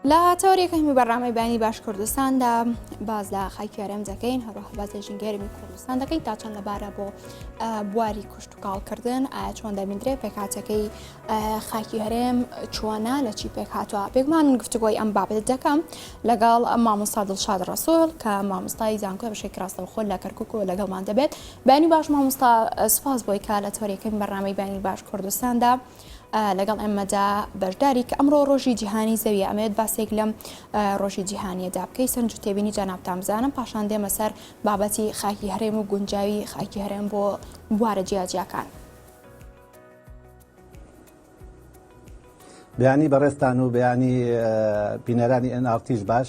لە تەوەرێک هەمی بەڕامەی بانی باش کوردستاندا باز لە خاکیارم دەکەین هەروەها باز لە ژنگەرمی کوردستان دەکەین تا چەند لەبارە بۆ بواری کوشت و کاڵکردن ئایا چۆن دەبیندرێ پێکاتەکەی خاکی هەرێم چۆنا لە چی پێک هاتووە پێکمان گفتگۆی ئەم بابەت دەکەم لەگەڵ ئەم مامۆستا دڵشاد ڕسۆل کە مامۆستای زانکۆ بەشێک ڕاستەو خۆل لە کەرکک و لەگەڵمان دەبێت بانی باش مامۆستا سپاس بۆی کا لە تۆرێکەکەی بەڕامەی بانی باش کوردستاندا. لەگەڵ ئێمەدا بەشداری کە ئەمڕۆ ڕۆژی جیهانی زەویە ئەمەوێت باسێک لەم ڕۆژی جیهانیەدا بکەی سەرنج و تێبینی جانابتان بزانم پاشان دێمە سەر بابەتی خاکی هەرێم و گونجاوی خاکی هەرێم بۆ بوارە جیاجیاکان. بیانی بەڕێستان و بیانی بینەرانی ئەنارتیش باش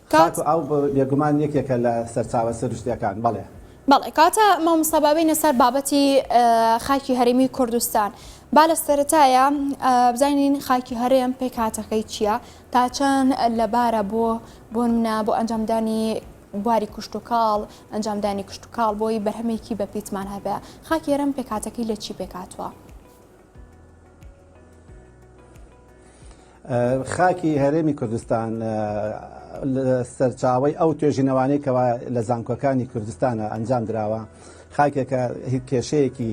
خاتو ئاو بێگومان یەکێکە لە سەرچاوە سروشتیەکان بەڵێ. بەڵێ کاتە مامۆستا با بێینە سەر بابەتی خاکی هەرێمی کوردستان با لە سەرەتایا بزانین خاکی هەرێم پێکهاتەکەی چیە تا چەند لە بارە بۆ بۆنمنا بۆ ئەنجامدانی بواری کوشتوکاڵ ئەنجامدانی کوشتتوکاڵ بۆی بەرهەمێکی بە پیتمان هەبێ خاکی هەرم پێکاتەکەی لە چی پێکاتوە خاکی هەرێمی کوردستان سەرچاوەی ئەو توێژینەوانەی کەوا لە زانکۆکانی کوردستانە ئەنجام دراوە خاکێکە کێشەیەکی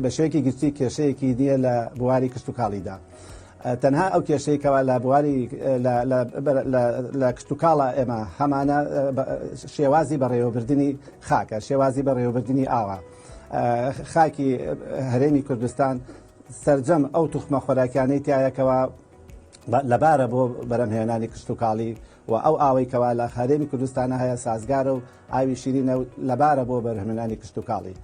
بەشێکی گشتی کێشەیەکی نییە لە بواری کشتتوکاڵیدا تەنها ئەو کێشەیەکەوە لە بواری لە کشتتوکاڵە ئێمە هەمانە شێوازی بەڕێوەبردننی خاکە شێوازی بەڕێوەبردننی ئاوا خاکی هەرێمی کوردستان سەرجەم ئەو توخمە خۆراکیانەی تایە کەوا لەبارە بۆ بەرەمهێنانی کشتتوکاڵی و ئەو ئاوەی کەوا لە هەرێمی کوردستانە هەیە سازگارە و ئاوی شیرینە و لەبارە بۆ بەرهمێنانی کشتتوکاڵی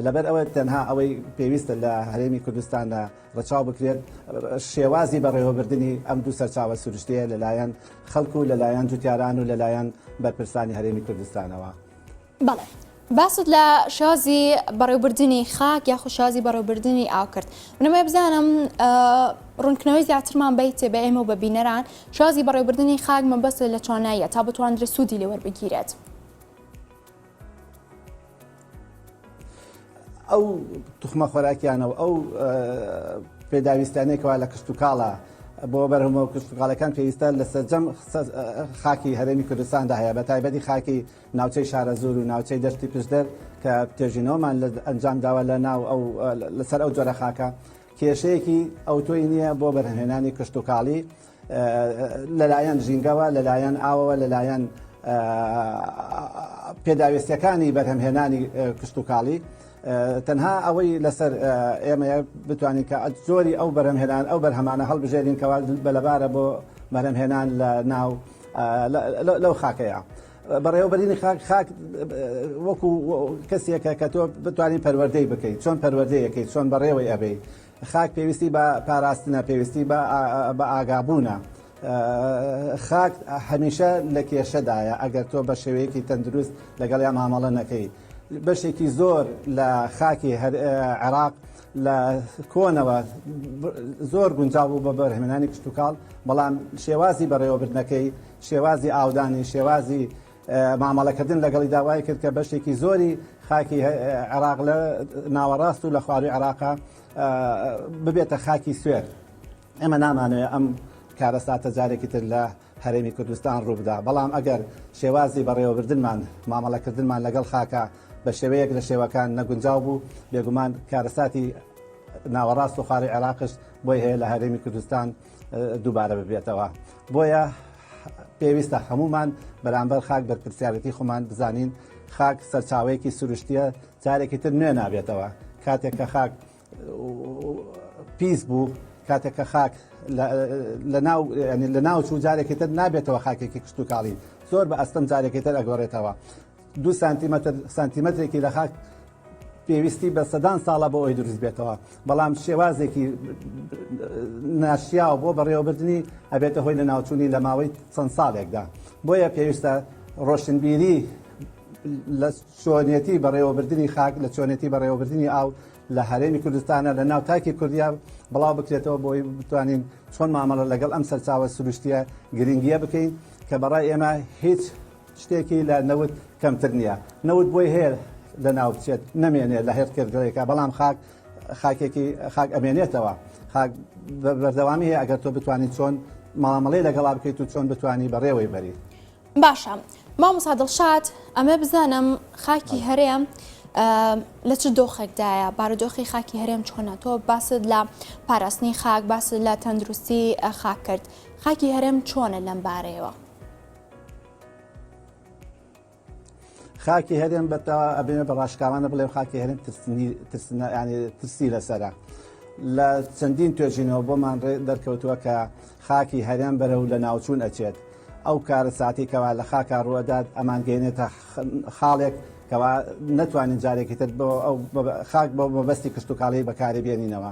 لەبەر ئەوە تەنها ئەوەی پێویستە لە هەرێمی کوردستاندا ڕچاو بکرێت شێوازی بەڕێوەبردننی ئەم دوو سەرچاوە سروشتەیە لەلایەن خەڵکو لەلایەن جوتیاران و لەلایەن بەرپرسانی هەرێمی کوردستانەوە. بەڵێ باست لە شازی بەڕێوبردنی خاک یاخو شازی بەڕێوبردنی ئاو کرد منەوەی بزانم ڕونکردنەوەی زیاترمان بیتێ بە ئێمە و بە بینەران شازی بەڕێوبردنی خاک مەبەست لە تواناییە تا بتواندرێ سوودی لێوەربگیرێت. ئەو توخمە خۆراکیانە و ئەو پێداویستانێکەوە لە کشت و کاڵە بۆ بەرهەمەوە کشتتوکاڵەکان پێویستە لە سەررجەم خاکی هەرێمی کوردستاندا هەیە بە تایبەتی خاکی ناوچەی شارەزوور و ناوچەی دەشتی پشدەر کە توێژینەوەمان لە ئەنجام داوە لە ناو ئەو لەسەر ئەو جۆرە خاکە کێشەیەکی ئەوتۆی نییە بۆ بەرهەمهێنانی کشتتوکاڵی لەلایەن ژینگەوە لەلایەن ئاوەوە لەلایەن پێداویستەکانی بەرهەمهێنانی کشتتوکاڵی تەنها ئەوەی لەسەر ئێمە بتوانین کە زۆری ئەو بەرەمهێنان ئەو بەرهەمانە هەڵبژێرین کەوا بەلەبارە بۆ بەرەمهێنان لە ناو لەو خاکەیە. بەڕێوەبەرینی خاک خاک وەکو کەسێکە کە تۆ بتوانین پەروەردەی بکەیت چۆن پەروەردەیەکەی چۆن بەڕێوەی ئەبەی خاک پێویستی بە پاراستنە پێویستی بە ئاگابوونە خاک هەمیشە لە کێشەدایە ئەگەر تۆ بە شێوەیەکی تەندروست لەگەڵ یا مامەڵە نەکەی بەشێکی زۆر لە خاکی عێراق لە کۆنەوە زۆر گونجاو بوو بە بەرهمنانی کشتتوکاڵ بەڵام شێوازی بەڕێوەبردنەکەی شێوازی ئاودانی، شێوازی مامەڵەکردن لەگەڵیدا وای کرد کە بەشێکی زۆری خاکی عێراق لە ناوەڕاست و لە خوارووی عێراقا ببێتە خاکی سوێر. ئێمە نامانەوێت ئەم کارەساتە جارێکی تر لە هەرێمی کوردستان ڕووبدا بەڵام ئەگەر شێوازی بەڕێوەبردنمان مامەڵەکردنمان لەگەڵ خاکە بە شێوەیەک لە شێوەکان نەگونجاو بوو بێگومان کارەساتی ناوەڕاست و خاڵی عێراقش بۆی هەیە لە هەرێمی کوردستان دووبارە ببێتەوە بۆیە پێویستە هەمومان بەرامبەر خاک بەرپرسیارەتی خۆمان بزانین خاک سەرچاوەیەکی سروشتیە جارێکی تر نوێ نابێتەوە کاتێک کە خاک پیس بوو کاتێک کە خاک لە ناو چوو جارێکی تر نابێتەوە خاکێکی کشتتوکاڵی زۆر بە ئەستەم جارێکی تر ئەگۆڕێتەوە دوو سانتیمەتر سانتیمەترێکی لە خاک پێویستی بە سەدان ساڵە بۆ ئەوی دروست بێتەوە بەڵام شێوازێکی ناشیاو بۆ بەڕێوەبردننی ئەبێتە هۆی لە ناوچوونی لە ماوەی چەند ساڵێکدا بۆیە پێویستە ڕۆشنبیری لە چۆنیەتی بەڕێوەبردننی خاک لە چۆنێتی بەڕێوەبردننی ئاو لە هەرێمی کوردستانە لە ناو تاکی کوردیا بڵاو بکرێتەوە بۆی بتوانین چۆن مامەڵە لەگەڵ ئەم سەرچاوە سروشتیە گرنگیە بکەین کە بەڕای ئێمە هیچ شتێکی لە نەوت کەمتر نییە. نەوت بۆی هەیە لە ناو بچێت، نەمێنێت لە هەر کێرگەڵێکا، بەڵام خاک خاکێکی خاک ئەمێنێتەوە. خاک بە بەردەوامی هەیە ئەگەر تۆ بتوانی چۆن مامەڵەی لەگەڵا بکەیت و چۆن بتوانی بەڕێوەی بەری. باشە مامۆستا دڵشاد ئەمە بزانم خاکی هەرێم لە چ دۆخێکدایە بارودۆخی خاکی هەرێم چۆنە تۆ باست لە پاراستنی خاک باست لە تەندروستی خاک کرد خاکی هەرێم چۆنە لەم بارەیەوە خاکی هەرێم بەتەوە ئەبێنە بە ڕاشکاوانە بڵێ خاکی هەرێم ترسی لەسرە لە چەندین توێژینەوە بۆمان دەرکەوتووە کە خاکی هەرێم بەرە و لە ناوچوون ئەچێت ئەو کارە ساتی کەوا لە خاکە ڕوەدات ئەمان گەێنێتە خاڵێک کەوا نتوانین جارێکی تر بۆ ئەو خاک بۆ مەبەستی کشتتوکاڵی بەکاری بێنینەوە.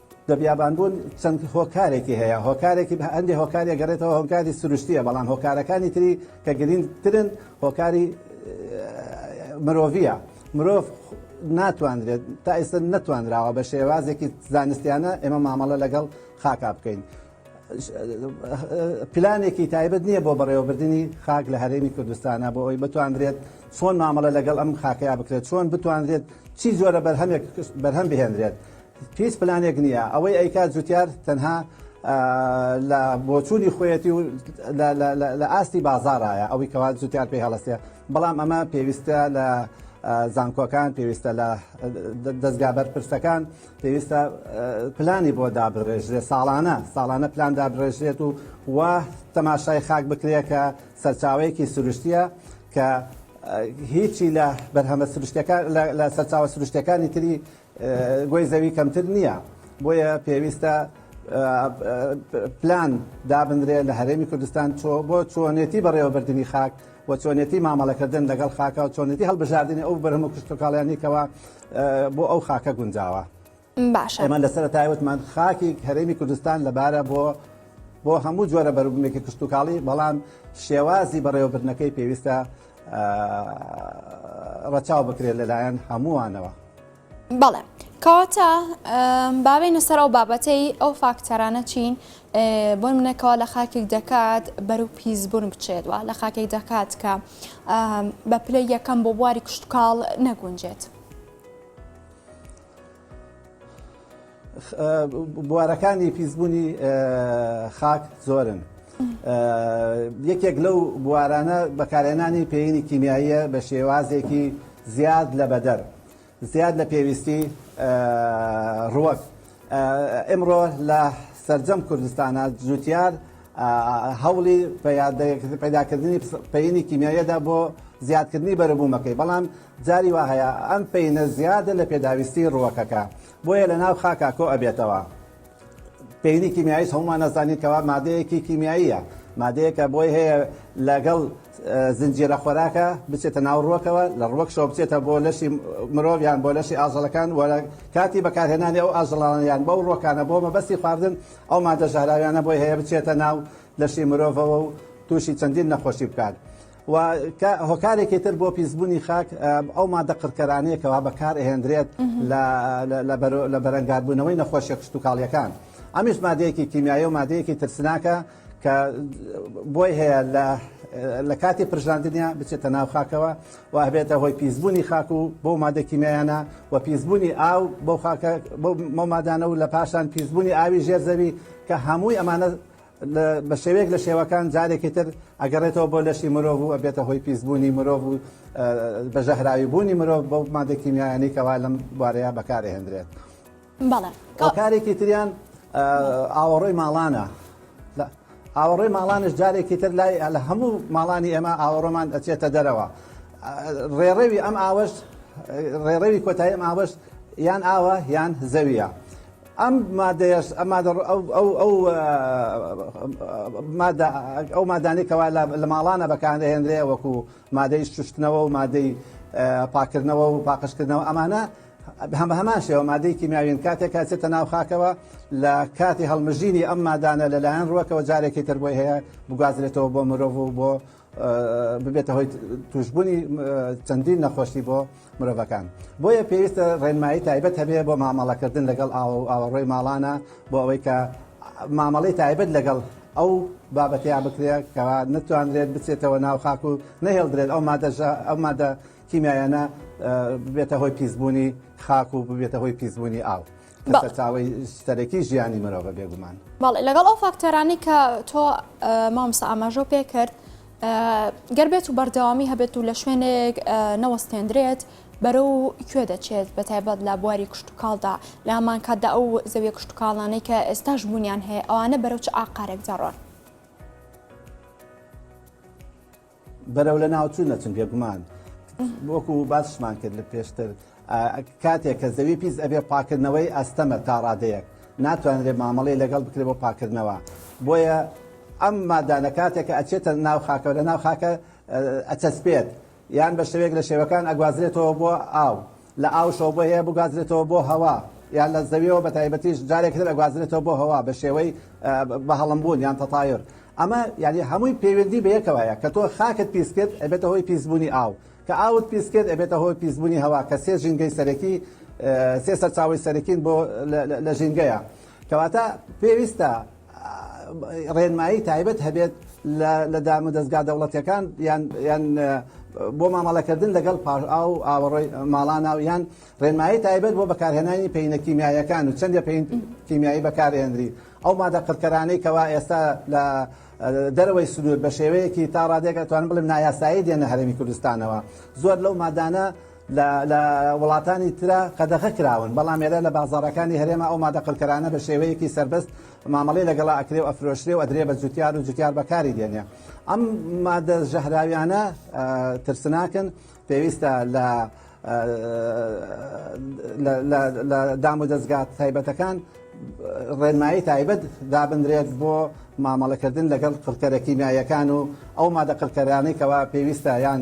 بەبیابانبوون چەند هۆکارێکی هەیە هۆکارێکی بە هەندێک هۆکاری گەڕێتەوە هۆکاری سروشتیە بەڵام هۆکارەکانی تری کە گرنگترن هۆکاری مرۆڤە مرۆڤ ناتواندرێت تا ئێستا نەتوانراوە بە شێوازێکی زانستیانە ئێمە مامەڵە لەگەڵ خاکا بکەین. پلانێکی تایبەت نییە بۆ بەڕێوەبردننی خاک لە هەرێمی کوردستانە بۆ ئەوی بتواندرێت چۆن مامەڵە لەگەڵ ئەم خاکەیە بکرێت چۆن بتواندرێت چی جۆرە بەرهەمێک بەرهەم بهێنرێت هیچ پلانێک نییە ئەوەی ئەیکات جوتیار تەنها لە بۆچوونی خۆیەتی و لە ئاستی بازارایە ئەوەی کەوا جوتیار پێی هەڵستێ بەڵام ئەمە پێویستە لە زانکۆکان پێویستە لە دەستگا بەرپرسەکان پێویستە پلانی بۆ دابڕێژرێت ساڵانە ساڵانە پلان دابڕێژرێت و و تەماشای خاک بکرێت کە سەرچاوەیەکی سروشتیە کە هیچی لە بەرهەمە سروشتەکان لە سەرچاوە سروشتەکانی تری گۆی زەوی کەمتر نییە بۆیە پێویستە پلان دابنرێ لە هەرێمی کوردستان چۆ بۆ چۆنێتی بەڕێوەبردننی خاک و چۆنێتی مامەڵەکردن لەگەڵ خاکە و چۆنێتی هەڵبژاردننی ئەو بەرهەم و کشتتوکاڵیانێکەوە بۆ ئەو خاکە گونجاوە باشە ئەمە لەسەر تایوتمان خاکی هەرێمی کوردستان لەبارە بۆ بۆ هەموو جۆرە بەروبوومێکی کشتتوکاڵی بەڵام شێوازی بەڕێوەبرنەکەی پێویستە ڕەچاو بکرێت لەلایەن هەمووانەوە. بەڵێ کەواتە باوێنە سەر ئەو بابەتەی ئەو فاکتەرانە چین بۆ منەکەەوە لە خاکێک دەکات بەرو پیسبوون بچێتوە لە خاکێک دەکات کە بە پلە یەکەم بۆ بواری کشتتوکاڵ نەگونجێت. بوارەکانی پیسبوونی خاک زۆرن یەکێک لەو بوارانە بەکارێنانی پێینی کیمیاییە بە شێوازێکی زیاد لە بەدەر زیاد لە پێویستی ڕوەک ئمڕۆ لە سرجەم کوردستانە جوتیار هەوڵی پەیداکردنی پەینی کیمیایەدا بۆ زیادکردنی بەرەبوومەکەی بەڵام جاری وا هەیە ئەم پینە زیادە لە پێداویستی ڕوەکەکە بۆیە لە ناو خاکا کۆ ئەبێتەوە. پێینی کیمیاییش هەموومان ئەزانین کەوا مادەیەکی کیمیاییە، مادەیەکە بۆی هەیە لەگەڵ زنجیرە خۆراکە بچێتە ناو ڕووەکەوە، لە ڕووەکشەوە بچێتە بۆ لەشی مرۆڤ یان بۆ لەشی ئاژەڵەکان و لە کاتی بەکارهێنانی ئەو ئاژەڵانە یان بەو ڕووەکانە بۆ مەبەستی خواردن ئەو مادە ژەهراویانە بۆی هەیە بچێتە ناو لەشی مرۆڤەوە و تووشی چەندین نەخۆشی بکات. و کە هۆکارێکی تر بۆ پیسبوونی خاک ئەو مادە قڕکەرانەیە کەوا بەکار ئەهێندرێت لە بەرەنگاربوونەوەی نەخۆشیە کشتتوکاڵیەکان ئەمیش مادەیەکی کیمیایە و مادەیەکی ترسناکە کە بۆی هەیە لە لە کاتی پرژاندنیا بچێتە ناو خاکەوە و هەبێتە هۆی پیسبوونی خاک و بۆ مادەکیمیانە و پیسبوونی ئاو بۆ خاکە بۆ مەمادانە و لە پاشان پیسبوونی ئاوی ژێر زەوی کە هەمووی ئەمانە بە شێوەیەک لە شێوەکان جارێکی تر ئەگەڕێتەوە بۆ لەشی مرۆڤ و ئەبێتە هۆی پیسبوونی مرۆڤ و بە ژەهراوی بوونی مرۆڤ بۆ مادە کیمیایانی کەوا لەم بارەیە بەکارهێندرێت کارێکی تریان ئاوەڕۆی ماڵانە ئاوەڕۆی ماڵانش جارێکی تر لای لە هەموو ماڵانی ئێمە ئاوەڕۆمان ئەچێتە دەرەوە ڕێڕەوی ئەم ئاوەش ڕێڕەوی کۆتایی ئەم ئاوەش یان ئاوە یان زەویە ئەم مادەیەش ئەم مادە ڕ- ئەو- ئەو- ئەو، ئە، مادە ئەو مادانەی کەوا لە لە ماڵانە بەکار دەهێنرێ وەکو مادەی شوشتنەوە و مادەی ئە، پاکردنەوە و پاقژکردنەوە ئەمانە هەم بە هەمان شێوە مادەی کیمیاویین کاتێک کە ئەچێتە ناو خاکەوە لە کاتی هەڵمژینی ئەم مادانە لەلایەن ڕووەکەوە جارێکی تر بۆی هەیە بگوازرێتەوە بۆ مرۆڤ و بۆ ببێتە هۆی توشببوونی چەندین نەخۆشی بۆ مرۆڤەکان بۆیە پێویستە ڕێنمایی تایبەت هەبێ بۆ مامەڵەکردن لەگەڵ ئاوە و ئاوەڕۆی ماڵانە بۆ ئەوەی کە مامەڵی تایبەت لەگەڵ ئەو بابەتەیە بکرێت کەوا نتوانرێت بچێتەوە ناو خاک و نەهێڵدرێت ئەو مادەژە ئەو مادە کیمیایانە ببێتە هۆی پیسبوونی خاک و ببێتە هۆی پیسبوونی ئاو کە سەرچاوەی سەرەکی ژیانی مرۆڤە بێگومان. بەڵێ لەگەڵ ئەو فاکتەرانەی کە تۆ مامۆستا ئاماژەو پێ کرد گەر بێت و بەردەوامی هەبێت و لە شوێنێک نەوەستێندرێت بەرە و کوێ دەچێت بە تایبەت لە بواری کشتتوکاڵدا لامان کاتدا ئەو زەویە کشتتوکاڵانەی کە ئێستاش بوونیان هەیە ئەوانە بەرەو چ ئاقارێک جاڕۆن بەرەو لەناوچوون دەچن بێگومان وەکو باسمان کرد لە پێشتر کاتێک کە زەوی پیس ئەبێ پاکردنەوەی ئەستەمە تا ڕادەیەک ناتوانرێت مامەڵی لەگەڵ بکرێت بۆ پاکردنەوە بۆیە ئەم مادانە کاتێک کە ئەچێتە ناو خاکە لە ناو خاکە ئەچەسپێت یان بە شێوێک لە شێوەکان ئەگوازرێتەوە بۆ ئاو لە ئاوشەوە بۆ هەیە بگوازرێتەوە بۆ هەوا یان لە زەویەوە بە تایبەتیش جارێک تر ئەگوازرێتەوە بۆ هەوا بە شێوەی بە هەڵمبوون یان تەتایر ئەمە یعنی هەمووی پەیوەندی بە یەکەوە هەیە کە تۆ خاکت پیس کرد ئەبێتە هۆی پیسبوونی ئاو کە ئاوت پیس کرد ئەبێتە هۆی پیسبوونی هەوا کە سێ ژینگەی سەرەکی سێ سەرچاوی سەرەکین بۆ لە ژینگەیە کەواتە پێویستە ڕێنمایی تایبەت هەبێت لە دام و دەستگا دەوڵەتەکان یان بۆ مامەڵەکردن لەگەڵ پاش ئاو و ئاوەڕۆی ماڵانە و یان ڕێنمایی تایبەت بۆ بەکارهێنانی پینە کیمیایەکان و چەندە پێین کیمیایی بەکارهێنری ئەو مادە قڕکەرانەی کەوا ئێستا لە دەرەوەی سنوور بە شێوەیەکی تا ڕادێکە توان بڵێم نایاسایی دێنە هەرمی کوردستانەوە زۆر لەو مادانە لە وڵاتانی ترا قەدەغە کراون بەڵام ئێرە لە بازاڕەکانی هەرێمە ئەو مادە قڕکەرانە بە شێوەیەکی سەربەست مامەڵەی لەگەڵا ئەکرێ و ئەفرۆشرێ و ئەدرێ بە جوتیار و جوتیار بەکاری دێنێ ئەم مادە ژەهراویانە ترسناکن پێویستە لە لە دام و دەستگات تایبەتەکان ڕێنمایی تایبەت دابدرێت بۆ مامەڵەکردن لەگەڵ قڕکەرە کیمیایەکان و ئەو مادە قڕکەرانەی کەوا پێویستە یان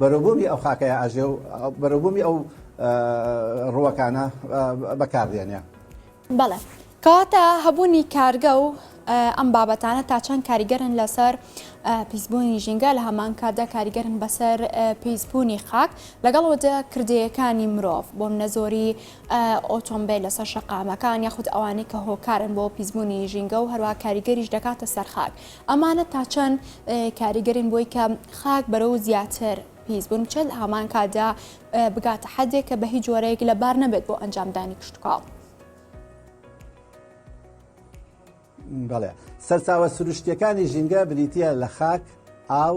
بەرەوبوومی ئەو خاکەیا ئەژێ و بەرەوبوومی ئەو ڕووەکانە بەکاردێنێ. بەڵێ. کەواتە هەبوونی کارگە و ئەم بابەتانە تا چەند کاریگەرن لەسەر پیسبوونی ژینگە لە هەمان کاتدا کاریگەرن بەسەر پیسبوونی خاک لەگەڵ وەدە کردەیەکانی مرۆڤ بۆ منە زۆری ئۆتۆمبیل لەسەر شەقامەکان یاخود ئەوانەی کە هۆکارن بۆ پیسبوونی ژینگە و هەروە کاریگەریش دەکاتە سەرخاک ئەمانە تا چەند کاریگەرن بۆی کە خاک بەرەو زیاتر پیس بوون بچێت هامان کادا بگاتە حەدێک کە بە هیچ جۆرەیەک لە بار نەبێت بۆ ئەنجامدانی کشتتوکاو. بەڵێ سەرچاوە سروشتیەکانی ژینگە بریتە لە خاک ئاو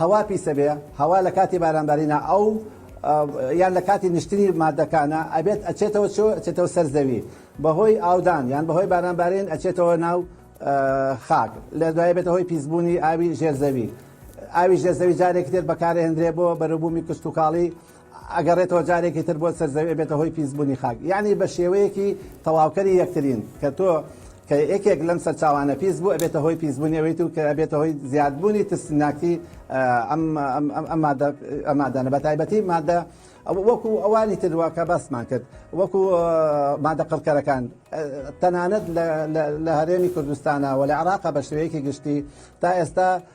هەوا پیسە بێ هەوا لە کاتی بارانبارینە ئەو یان لە کاتی نیشتنی مادەکانە ئەبێت ئەچێتەوە چۆ ئەچێتەوە سەر زەوی بەهۆی ئاودان یان بەهۆی بارانبارین ئەچێتەوە ناو خاک لە دوای بێتە هۆی پیسبوونی ئاوی ژێرزەوی ئاوی ژێرزەوی جارێکی تر بەکارهێندرێ بۆ بەرەبوومی کشتتوکاڵی ئەگەڕێتەوە جارێکی تر بۆ سەر زەوی ئەبێتە هۆی پیس بونی خاک یەعنی بە شێوەیەکی تەواوکەری یەکترین کە تۆ کە یەکێک لەم سەرچاوانە پیس بوو ئەبێتە هۆی پیس بونی ئەویت و کە ئەبێتە هۆی زیاد بونی ترسناکی ئەم ئەم مادە ئەمادانە بە تایبەتی مادە وەکو ئەوانی تروا کە باسمان کرد وەکو مادە قڕکەرەکان تەنانەت لە هەرێمی کوردستانە و لە عراقە بە شێوەیەکی گشتی تا ئێستا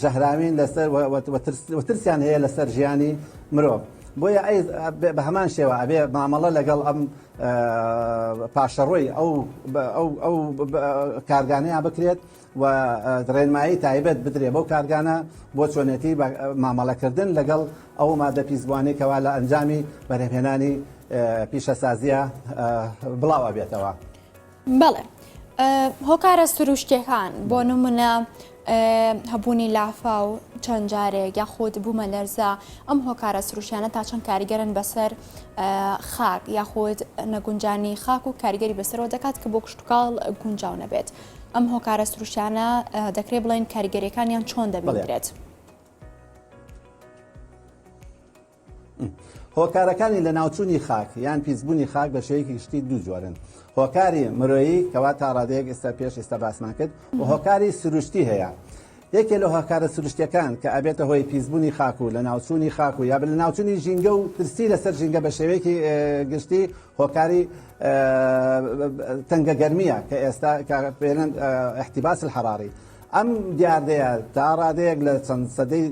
ژەهراوین لەسەر و ترسیان هەیە لەسەر ژیانی مرۆڤ بۆیە ئەی بە هەمان شێوە ئەبێ مامەڵە لەگەڵ ئەم پاشەڕۆی ئەو ئەو کارگانەیە بکرێت و ڕێنمایی تایبەت بدرێ بەو کارگانە بۆ چۆنێتی مامەڵەکردن لەگەڵ ئەو مادە پیسبووانی کەوا لە ئەنجامی بەرهێنانی پیشەسازیە بڵاو ئەبێتەوە. بەڵێ هۆکارە سروشتیەکان بۆ نمونە هەبوونی لافا و چەند جارێک یاخود بوومە لەرزە ئەم هۆکارە سروشیانە تا چەند کاریگەرن بەسەر خاک یاخود نەگونجانی خاک و کاریگەری بەسەرەوە دەکات کە بۆ کشتتوکاڵ گونجاو نەبێت ئەم هۆکارە سروشیانە دەکرێت بڵێن کاریگەریەکانیان چۆن دەبڵێت. هۆکارەکانی لەناوچوونی خاک یان پیسبوونی خاک بە شێوەیەکی گشتی دوو جۆرن هۆکاری مرۆیی کەوا تا ڕادەیەک ئێستا پێش ئێستا باسمان کرد و هۆکاری سروشتی هەیە یەکێ لە هۆکارە سروشتەکان کە ئەبێتە هۆی پیسبوونی خاک و لە ناوچوونی خاک و یا لە ناوچوونی ژینگە و پرسی لەسەر ژینگە بە شێوەیەکی گشتی هۆکاری تەنگە گەرمیە کە ئێستا پێێن احتیباس الحراری ئەم دیاردەیە تا ڕادەیەک لە چەند سەدەی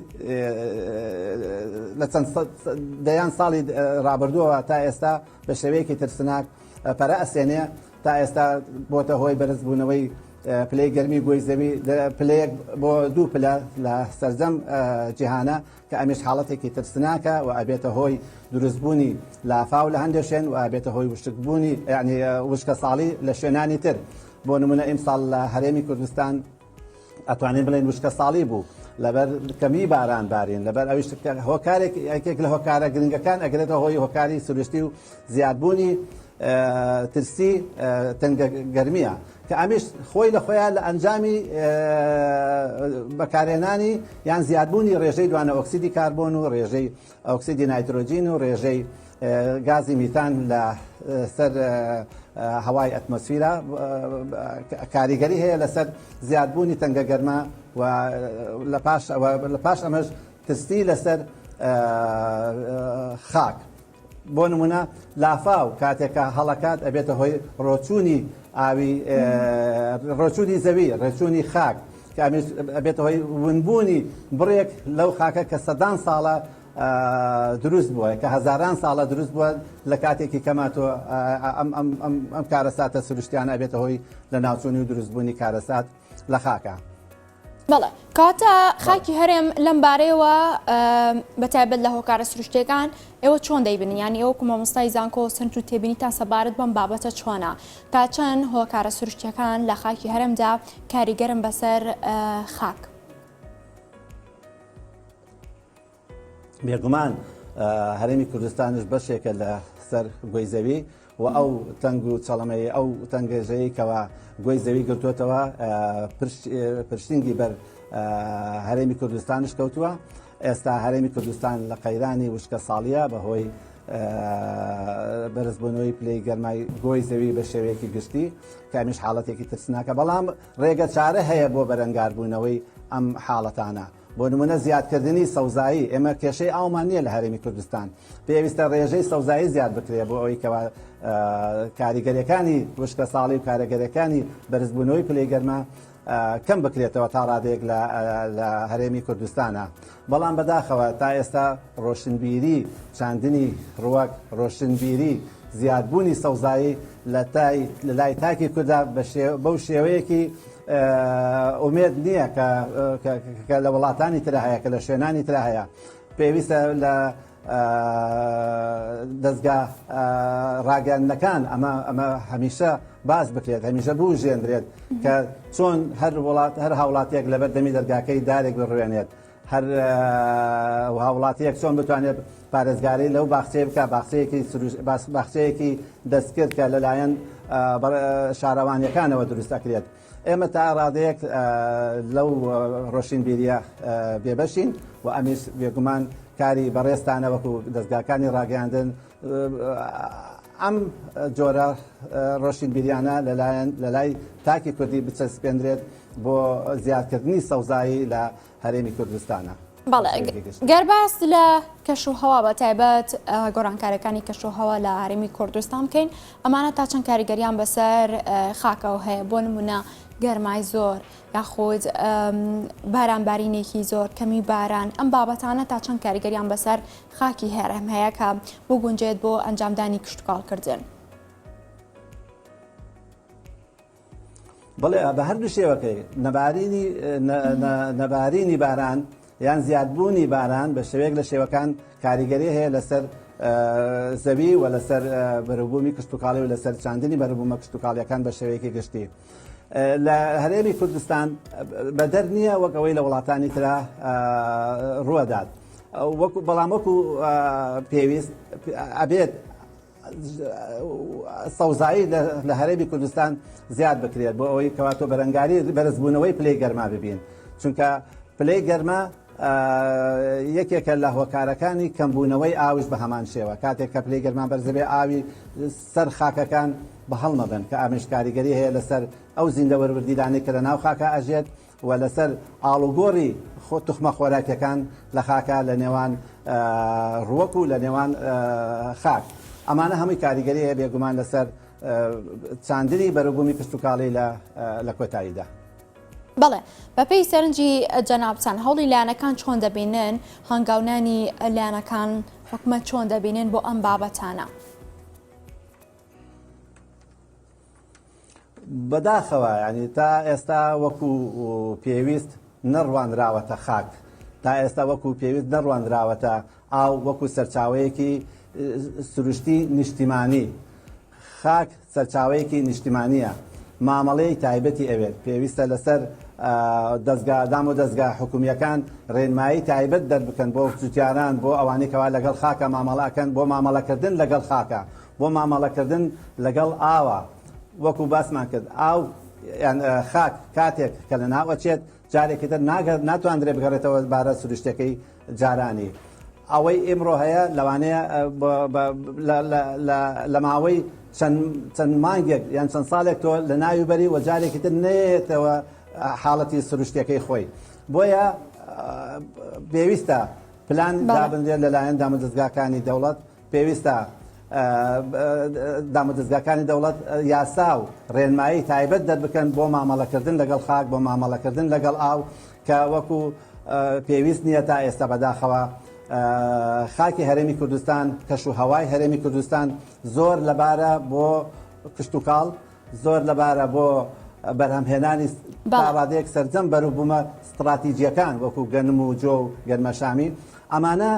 لە چەند دەیان ساڵی ڕابردووەوە تا ئێستا بە شێوەیەکی ترسناک پەرە ئەسێنێ تا ئێستا بۆتە هۆی بەرزبوونەوەی پلەی گەرمی گۆی زەوی پلەیەک بۆ دوو پلە لە سەرجەم جیهانە کە ئەمیش حاڵەتێکی ترسناکە و ئەبێتە هۆی دروستبوونی لافاو لە هەندێ شوێن و ئەبێتە هۆی وشکبوونی یانی وشکەساڵی لە شوێنانی تر بۆ نمونە ئیمساڵ لە هەرێمی کوردستان ئەتوانین بڵێن وشکە ساڵی بوو لەبەر کەمی باران بارین لەبەر ئەویش هۆکارێک یەکێک لە هۆکارە گرنگەکان ئەگرێتە هۆی هۆکاری سروشتی و زیادبوونی ترسی تەنگە گەرمیە کە ئەمیش خۆی لە خۆیان لە ئەنجامی بەکارهێنانی یان زیادبوونی ڕێژەی دوانە ئۆکسیدی کاربۆن و ڕێژەی ئۆکسیدی نایترۆجین و ڕێژەی گازی میتان لە سەر هەوای ئەتمۆسفیرا کاریگەری هەیە لەسەر زیادبوونی تەنگە گەرما و لە پاش ئەمەش ترسی لەسەر خاک بۆ نمونە لافاو کاتێک کە هەڵەکات ئەبێتە هۆی ڕۆچوونی ئاوی ڕۆچوونی زەوی ڕێچوونی خاک کە ئەمیش ئەبێتە هۆی ونبوونی بڕێک لەو خاکە کە سەدان ساڵە دروست بووە کە هەزاران ساڵە دروست بووە لە کاتێکی کەما تۆ ئەم کارەساتە سروشتیانە ئەبێتە هۆی لە ناوچوونی و دروستبوونی کارەسات لە خاکە. بەڵێ کاتە خاکی هەرێم لەم بارەیەوە بەتایبەت لە هۆکارە سروشتەکان ئێوە چۆن دەیبنی ینی ئەو کومەمستای زانکۆ سنت و تێبینی تا سەبارەت بەم بابەتە چۆنا تا چەند هۆکارە سروشتەکان لە خاکی هەرمدا کاریگەرم بەسەر خاک. بێگومان هەرێمی کوردستانش بەشێکە لە سەر گۆی زەوی و ئەو تەنگ و چەڵەمەی ئەو تەنگێژەیە کەەوە گۆی زەوی گرتوتەوە پرشتنگی بەر هەرێمی کوردستانش کەوتووە ئێستا هەرێمی کوردستان لە قەیرانی وشکە ساڵیە بەهۆی بەرزبوونەوەی پلی گەرمای گۆی زەوی بە شێوەیەکی گشتی کامیش حاڵەتێکی ترسناکە بەڵام ڕێگە چارە هەیە بۆ بەرەنگاربوونەوەی ئەم حاڵەتانە بۆ نمونە زیادکردنی سەوزایی، ئێمە کێشەی ئاومان نییە لە هەرێمی کوردستان، پێویستە رێژەی سەوزایی زیاد بکرێت بۆ ئەوەی کەوا کاریگەریەکانی وشکەساڵی و کارەگەریەکانی بەرزبوونەوەی پلەی گەرما کەم بکرێتەوە تا رادەیەک لە هەرێمی کوردستانە، بەڵام بەداخەوە تا ئێستا رۆشنبیری چاندنی رووەک، رۆشنبیری زیادبوونی سەوزایی لە لای تاکی کوردا بەو شێوەیەکی ئومێد نییە کە لە وڵاتانی ترە هەیە کە لە شوێنانی ترە هەیە پێویستە لە دەستگا ڕاگەاندنەکان ئەمە ئەمە هەمیشە باز بکرێت هەمیشە بوو ژێندرێت کە چۆن هەر وڵات هەر هاوڵاتیەک لەبەر دەمی دەرگاکەی دارێک بڕوێنێت هەر هاوڵاتیەک چۆن بتوانێت پارێزگاری لەو باخچەیە بکە باخچەیەکی باخچەیەکی دەستکرد کە لەلایەن شارەوانیەکانەوە دروست دەکرێت ئێمە تا ڕادەیەک لەو ڕۆشنبیریە بێبەشین و ئەمیش بێگومان کاری بەڕێستانەوەکو دەستگاکانی ڕاگەاندن ئەم جۆرە ڕۆشنبیریانە لەلایەن لەلای تاکی کوردی بچەسپێندرێت بۆ زیادکردنی سەوزایی لە هەرێمی کوردستانا. بەڵێ گەر باس لە کەش و هەوا بە تایبەت گۆرانکارەکانی کەش و هەوا لە هەرمی کوردستان بکەین ئەمانە تا چەند کاریگەریان بەسەر خاکەوە هەیە بۆ نمونە گەرمای زۆر یاخود بارانبارینێکی زۆر کەمی باران ئەم بابەتانە تا چەند کاریگەریان بەسەر خاکی هەرێم هەیە کە بگونجێت بۆ ئەنجامدانی کشتوکاڵکردن. بەڵێ بە هەردوو شێوەکەی نەبارینی نەبارینی باران یان زیادبوونی باران بە شێوەیەک لە شێوەکان کاریگەری هەیە لەسەر زەوی و لەسەر بەرەبوومی کشتتوکاڵی و لەسەر چاندنی بەرەبوومە کشتتوکاڵیەکان بە شێوەیەکی گشتی. لە هەرێمی کوردستان بەدەر نییە وەک ئەوەی لە وڵاتانی ترا ڕوەدات وەکو بەڵام وەکو پێویست ئەبێت سەوزایی لە هەرێمی کوردستان زیاد بکرێت بۆ ئەوەی کەواتۆ بەرەنگاری بەرزبوونەوەی پلەی گەرما ببین چونکە پلەی گەرما یەکێکە لە هۆکارەکانی کەمبوونەوەی ئاوش بە هەمان شێوە کاتێک کە پلەی گەرما بەرزەبێ ئاوی سەر خاکەکان بە هەڵمەبن کە ئەمش کاریگەری هەیە لەسەر ئەو زیندە وەروردیلانەی کە لە ناو خاکە ئەژێت و لەسەر ئاڵوگۆڕی خۆ توخمە خۆراکیەکان لە خاکە لە نێوان ڕوەک و لە نێوان خاک ئەمانە هەمووی کاریگەری هەیە بێگومان لەسەر چاندنی بەروبوومی کشتتوکاڵی لە لە کۆتاییدا. بەڵێ، بەپێی سەرنجی جەنابتان هەوڵی لایەنەکان چۆن دەبینن، هەنگاونانی لایەنەکان حکومەت چۆن دەبینن بۆ ئەم بابەتانە؟ بەداخەوە ینی تا ئێستا وەکو پێویست نەڕوانراوەتە خاک تا ئێستا وەکو پێویست نەڕوانراوەتە ئاو وەکو سەرچاوەیەکی سروشتی نیشتیمانی خاک سەرچاوەیەکی نیشتیمانییە مامەڵەی تایبەتی ئەوێت، پێویستە لەسەر دەزگا دامودەزگا حکومییەکان رێنمایی تایبەت دەربکەن بۆ جوتیاران بۆ ئەوانەی کەوا لەگەڵ خاکە مامەڵە ئەکەن بۆ مامەڵەکردن لەگەڵ خاکە بۆ مامەڵەکردن لەگەڵ ئاوە وەکو باسمان کرد ئاو یان خاک کاتێک کە لەناو ئەچێت جارێکی تر ناگە ناتواندرێ بگەڕێتەوە بارە سروشتەکەی جارانی. ئەوەی ئیمڕۆ هەیە لەوانەیە لە ماوەی چەند مانگێک یان چەند ساڵێک تۆ لە ناوی بەری و جارێکی تر نێتەوە حاڵەتی سروشتەکەی خۆی بۆیە پێویستە پلان دابنرێت لەلایەن دامەدەستگاکانی دەوڵەت پێویستە دامە دەزگاکانی دەوڵەت یاسا و ڕێنمایی تایبەت دەربکەن بۆ مامەڵەکردن لەگەڵ خاک بۆ مامەڵەکردن لەگەڵ ئاو کە وەکو پێویست نییە تا ئێستا بەداخەوە خاکی هەرێمی کوردستان کەش و هەوای هەرێمی کوردستان زۆر لەبارە بۆ کشتتوکاڵ زۆر لەبارە بۆ بەرهەمهێنانی باڕادەیەک سەرجەم بەروبوومە ستراتیجیەکان وەکو گەنم و جۆ و گەرمەشامی ئەمانە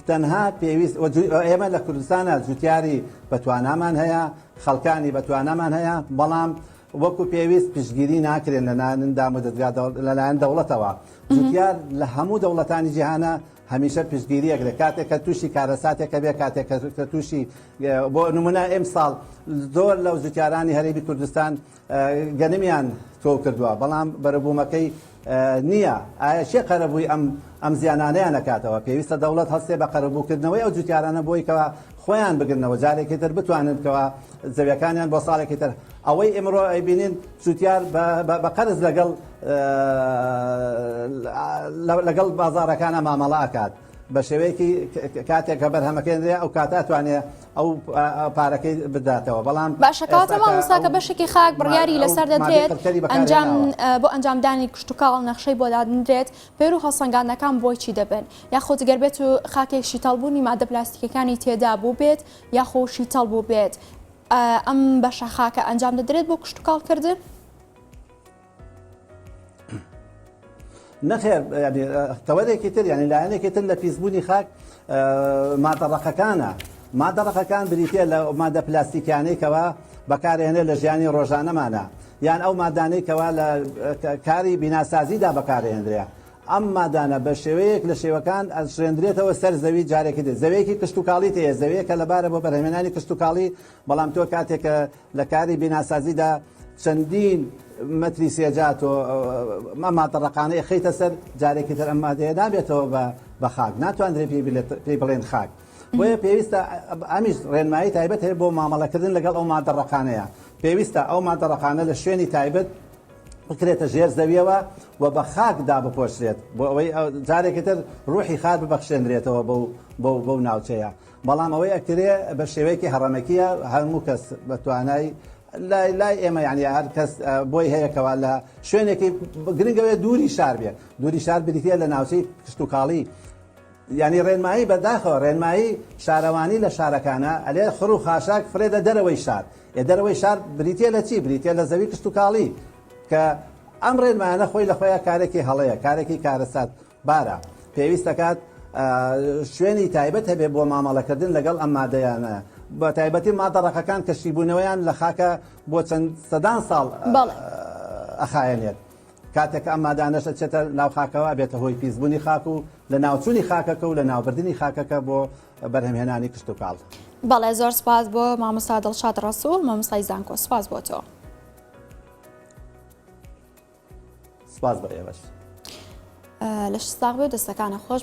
تەنها پێویست و جوی ئێمە لە کوردستانە جوتیاری بەتوانامان هەیە خەڵکانی بەتوانامان هەیە بەڵام وەکو پێویست پشتگیری ناکرێن لە نانن دام و دەزگا لەلایەن دەوڵەتەوە جوتیار لە هەموو دەوڵەتانی جیهانە هەمیشە پشتگیریەک لە کاتێک کە تووشی کارەساتێکە بێ کاتێک کە تووشی بۆ نمونە ئەم ساڵ زۆر لەو جوتیارانی هەرێمی کوردستان گەنمیان تۆو کردوە بەڵام بەرەبومەکەی نیە ئایە کێ قەرەبوی ئەم ئەم زیانانەیان ئەکاتەوە پێویستە دەوڵەت هەڵسێ بە قەرەبوو کردنەوەی ئەو جوتیارانە بۆی کەوا خۆیان بگرنەوە جارێکی تر بتوانن کەوا زەویەکانیان بۆ ساڵێکی تر ئەوەی ئمڕۆ ئەیبینین جوتیار بە قەرز لەگەڵ لەگەڵ بازارەکانە مامەڵە ئەکات بە شێوەیەکی کاتێک کە بەرهەمەکەێنرێ ئەو کاتە توانێ ئەو پارەکەی بداتەوە بەڵام باشە کاتە مامۆستا کە بەشێکی خاک بڕیاری لەسەر دەدرێت ئەنجام بۆ ئەنجامدانی کشتتوکاڵ نەخشەی بۆ دادنرێت پێر و هەڵسەنگانەکان بۆی چی دەبن یاخۆ گەر بێت و خاکێکشی تەڵبوونی مادە پلاستیکەکانی تێدا بوو بێت یاخۆشی تەڵ بوو بێت ئەم بەشە خاکە ئەنجام دەدرێت بۆ کشتتوکاڵکردن نەخێر تەوەرێکی تر یعنی لایەنێکی تر لە پیسبوونی خاک مادەڕەقەکانە مادەڕەقەکان بریتە لە مادە پلاستیکیانەی کەەوە بەکارێنێ لە ژیانی ڕۆژانەمانە یان ئەو مادانەی کەوا لە کاری بیناسازیدا بەکارهێنرێ ئەم مادانە بە شێوەیەک لە شێوەکان ئەشێندرێتەوە سەر زەوی جارێکی دێت زەوەیەکی کشتتوکاڵی تەیە زەوەیە کە لەبارە بۆ بەرهێنانی کشتتوکاڵی بەڵام تۆ کاتێکە لە کاری بیناسازیدا چەندین مەتری سێجا تۆ ئەم مادە ڕەقانە ئەخەیتە سەر جارێکی تر ئەم مادەیە نابێتەوە بە بە خاک ناتوانرێت پێی بلێت پێی بڵێن خاک بۆیە پێویستە ئەمیش ڕێنمایی تایبەت هەیە بۆ مامەڵەکردن لەگەڵ ئەو مادە ڕەقانەیە پێویستە ئەو مادە ڕەقانە لە شوێنی تایبەت بکرێتە ژێر زەویەوە و بە خاکدا بپۆشرێت بۆ ئەوەی جارێکی تر ڕوحی خار ببەخشێنرێتەوە بەو بەو بەو ناوچەیە بەڵام ئەوەی ئەکرێ بە شێوەیەکی هەڕەمەکیە هەموو کەس بە توانای لای لای ئێمە یعنی هەر کەس بۆی هەیە کەوا لە شوێنێکی گرنگەوەێ دووری شار بێ دووری شار بریتە لە ناوچەی کشتتوکاڵی ینی ڕێنمایی بەداخەوە ڕێنمایی شارەوانی لە شارەکانە ئەلێ خڕ و خاشاک فرێدە دەرەوەی شار ئێ دەرەوەی شار بریتە لە چی بریتە لە زەوی کشتتوکاڵی کە ئەم ڕێنمایانە خۆی لە خۆیان کارێکی هەڵەیە کارێکی کارەسات بارە پێویست دەکات شوێنی تایبەت هەبێ بۆ مامەڵەکردن لەگەڵ ئەم مادەیانە بە تایبەتی مادە ڕەقەکان کەشیبوونەوەیان لە خاکە بۆ چەند سەدان ساڵ ئەخایەنێت کاتێک ئەم مادانەش ئەچێتە ناو خاکەوە بێتە هۆی پیسبوونی خاک و لە ناوچوونی خاکەکە و لە ناوبردننی خاکەکە بۆ بەرهەمهێنانی کشت و کاڵ بەڵێ زۆر سپاس بۆ مامۆستا دڵشاد ڕسوول مامۆستای زانکۆ سپاس بۆ تۆ. سپاس بۆ ئێوەش. لەشت ساغ بێ و دەستەکانت خۆش.